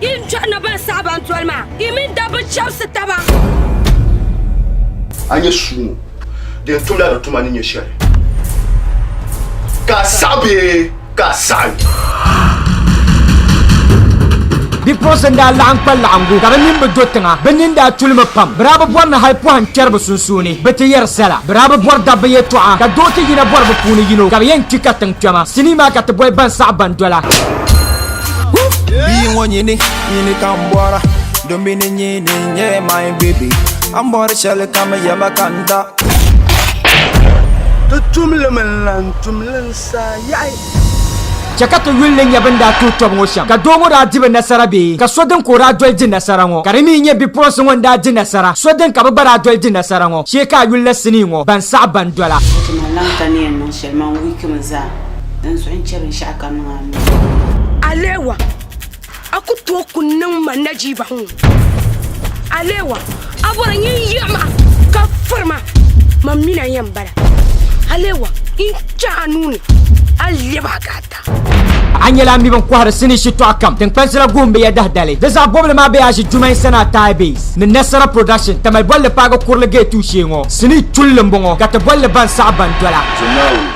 Yi ni chɔri ni ban saɣi ban doli maa, yi mini dabba chɛbisi taba. A nyɛ sua ŋɔ di yɛn tumla di tuma ni nyɛ shɛli, ka a saɣi bee ka a saɣi? Bipuɣinsi n daa laɣim kpa laɣingu ka bi nini bi do tiŋa. Bi nini daa tuli mi pam. Bi daa bi bɔri ni hali pɔhim kpɛri bi sunsuuni bi ti yɛri sala. Bi daa bi bɔri dabba yɛtɔɣa ka doo ti yina bɔri bi puuni yino ka bi yɛn kpi ka tiŋ kpɛma. Sinii maa ka ti boli ban saɣi ban dola. Bia ŋɔ nyini nyini ka m bɔra Don bini nyini n nyɛ my baby A ni bɔri shɛli ka mi yɛma ka n da Ti tumli mi n lan tumli n saa yaɣi. Chɛ ka ti yuli nya bɛn daa tuhi tɔbu ŋɔ shɛm, ka doo ŋɔ daa di bɛ nasara bee, ka so din ka o daa doli di nasara ŋɔ, ka di mi nyɛ bipuɣinsi ŋɔ n-daa di nasara, so din ka bɛ gba daa doli di nasara ŋɔ, shee ka a yuli la sinii ŋɔ, ban saɣi ban dɔla. Ti ni lan ka ni yɛn niŋ shɛli, man wiiki mi zaa. din suhi n-chɛ binshɛɣu kam niŋ a nuu ni. Alewa, a ku tooi ku niŋ ma najiiba ŋɔ. Alewa, a bɔri ni n yiɣi ma ka firi ma, man mi ni a yɛn bala. Alewa, n chɛ a nuu ni a lɛb a ka a ta. A nyɛla a mi bɛn kɔhiri sinii shitɔɣu kam. Tiŋkpansi la guhim bɛ ya dahidali. Di zaɣ bɔbili maa bɛ yaa ʒi Jumain Sanaa Thai Base ni Nasara Production, Tamale bolli paagi kurili gate tuushee ŋɔ. Sinii tulli m-bɔŋɔ ka ti bolli Ban saɣi Ban dola. Jumain